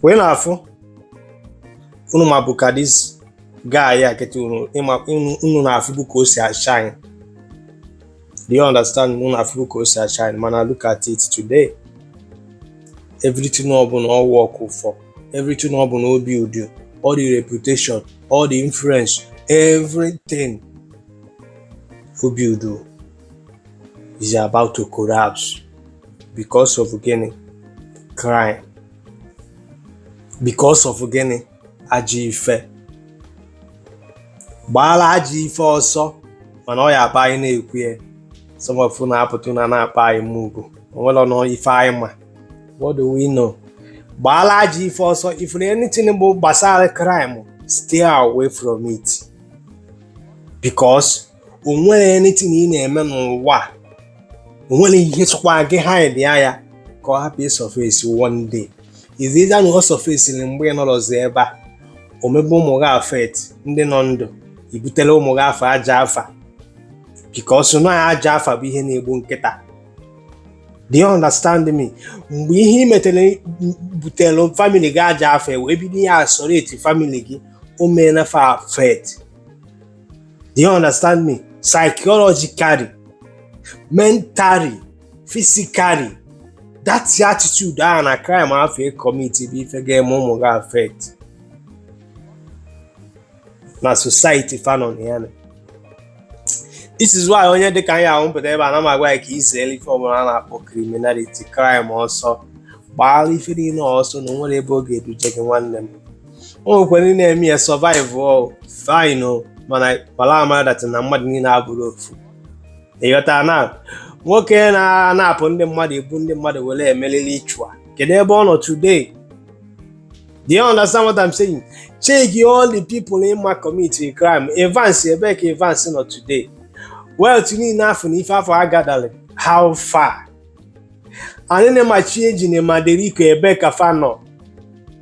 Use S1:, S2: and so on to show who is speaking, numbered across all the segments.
S1: wee na-afụ unu mabu ka this guy a kịta unu ịma unu unu na-afụbu ka o si ashine do you understand unu na-afụbu ka o si ashine mana look at it today everything ọ bụna ọ workụ for everything ọ bụna o buildu, all the reputation all the influence everything o buildu is about to collapse because of gịnị crime because of gịnị ajọ ife gbaala ajọ ife ọsọ mana ọ ya-abụ anyị na-ekwu ya some of you na-apụta na na-akpọ anyị mugu o nwerenụ ife anyị ma what do we know gbaala ajọ ife ọsọ if anything bụ gbasara crime stay away from it because o nwere anything ị na-eme n'ụwa o nwere ihe sọkwa gị hide ya ya ka ọ hapụ ịsurface one day is either na ọ surfaceri mgbe ị nọrọzi ebe a o mebe ụmụ gị affect ndị nọ ndụ i butere ụmụ gị afa ajọ afa because na ajọ afa bụ ihe na-egbu nkịta do you understand me mgbe ihe ị metere butere family gị ajọ afa wee bido ya isolate family gị o meela fa affect Do you understand me? Psychologically, mentally, physically, that attitude ahụ na crime afụ ị commit bụ ife ga-eme ụmụ gị affect na society fa nọ ya na this is why onye dịka anyị ahụ m pụta ebe a na m agwa ya ka i zere ife ọbụla a na-akpọ criminality crime ọsọ gbaara ife niile ọsọ na o nwere ebe ọ ga-eduje gị nwanne m o nwekwara ndị na-eme ya survive o fine o mana kpara amara that na mmadụ niile abụrọ ofu ị ghọta na nwoke na-anapụ ndị mmadụ ebu ndị mmadụ were eme ritual kedu ebe ọ nọ today do you understand what I'm saying check all the people ị ma commit a crime Evans ebe ka Evans nọ today wealth niile afụ na ife afụ ọ gatheralị how far Anini ma Chiejina ma Derico ebe ka fa nọ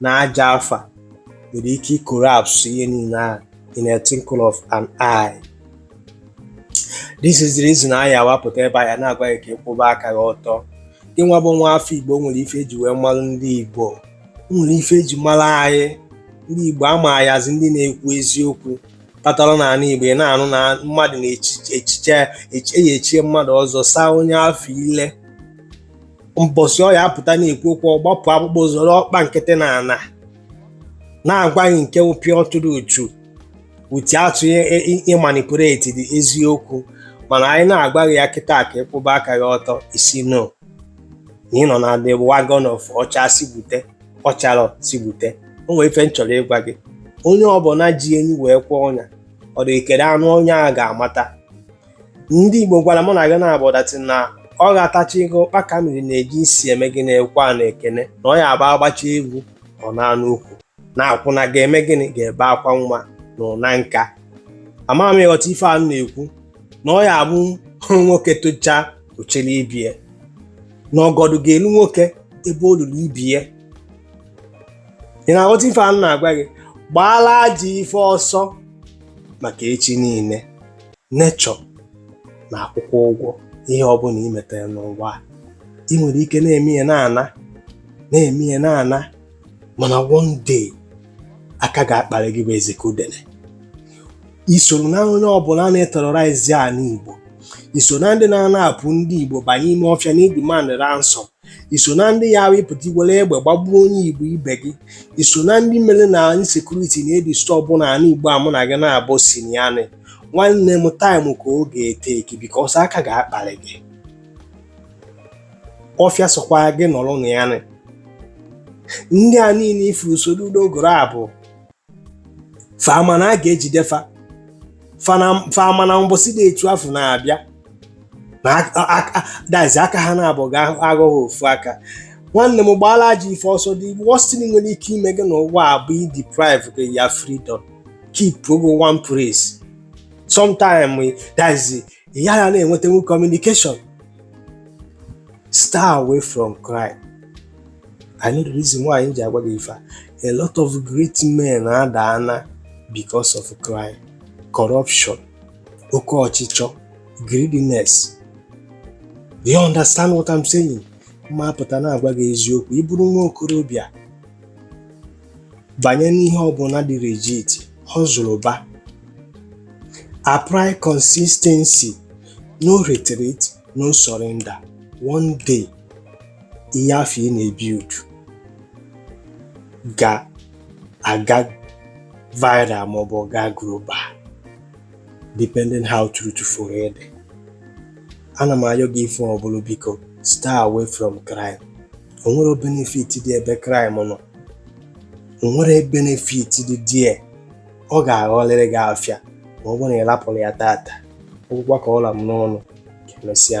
S1: na ajọ afa nwere ike icollapse ihe niile ahụ in a twinkle of an eye this is the reason anyị awapụta ebe a ya na-agwa gị ka ị kwụba aka gị ọtọ gịnwa bụ nwa afọ igbo nwere ife e ji wee mara ndị igbo nwere ife e ji mara anyị ndị igbo a ma anyị as ndị na-ekwu eziokwu kpatara na ala igbo ị na-anụ na mmadụ na-echi echichi eyi e chie mmadụ ọzọ saa onye afụ ile mbọsị ọ ya apụta na-ekwu okwu ọ gbapụ akpụkpọ zọrọ ọkpa nkịtị na ana na-agwa gị nke pure truth without ịmanipulate the eziokwu mana anyị na-agwa gị ya kịta ka ị kwụba aka gị ọtọ ị sị no na ị nọ na the wagon of ọ chaa sị gbute ọ charọ sị gbute o nwere ife m chọrọ ịgwa gị onye ọbụla ji enyi wee kwee ọnya ọ dị ekere anụ ọnya ga-amata ndị Igbo gwara mụ na gị naabọ that na ọ ga-atacha egu ụkpaka mmiri na-eji isi eme gịnị ekwe anụ ekene na ọ ya abụ a gbachaa egwu ọ naa n'ukwu na akwụna ga-eme gịnị ga-ebe akwa nwa na ụna nka ama m ị ghọta ife a na-ekwu na ọ ya abụ nwoke tochaa o chele ibe ya na ọgọdụ ga-elu nwoke ebe o luru ibe ya ị na-aghọta ife a na-agwa gị gbaala ajọ ife ọsọ maka echi niile nature na-akwụkwa ụgwọ ihe ọbụla i metere n'ụwa ị nwere ike na-eme ya na-ana na-eme ya na-ana mana one day aka ga-akparị gị bụ eziokwu dị na ya i soro na onye ọbụla na-eterrorize ala Igbo i so na ndị na-anapụ ndị Igbo banye ime ọfịa na-edemand ransom i so na ndị ya ahụ ị pụta i were egbe gbagbuo onye igbo ibe gị i so na ndị mere na insecurity na-edisturb na ala igbo a mụ na gị naabọ si na ya nị nwanne m time ka ọ ga-etake because aka ga-akpalị gị ọfịa sọkwa gị nọrọ na ya nị. ndị a niile i furu soro n'ogoro a bụ fa ma na a ga-ejide fa fa ma na mbọsị dị etu afụ na-abịa na that's aka ha naabọ ga-aghọ ofu aka nwanne m gbaala ajọ ife ọsọ the worst thing nwere ike ime gị n'ụwa a bụ ideprive gị your freedom keepụọ gị one place sometime that's ya ya na-enwetanwu communication stay away from crime I know the reason why m ji agwa gị ife a lot of great men adaana because of crime corruption oke ọchịchọ greediness do you understand what I'm saying ma pụta na-agwa gị eziokwu ị bụrụ nwa okorobịa banye n'ihe ọbụla dị legit hustleba apply consistency no retreat no surrender one day ihe afụ ị na-ebuild ga-aga viral maọbụ ọ gaa global depending how truthful ị dị ana m ayọ gị ife ọbụla biko stay away from crime o nwerọ benefit dị ebe crime nọ o nwerọ benefit dị there ọ ga-aghọlịrị gị afịa ma ọ bụrụ na ị lapụrọ ya tata ọ gwụgwo ka ọ la m n'ọnụ ka emesịa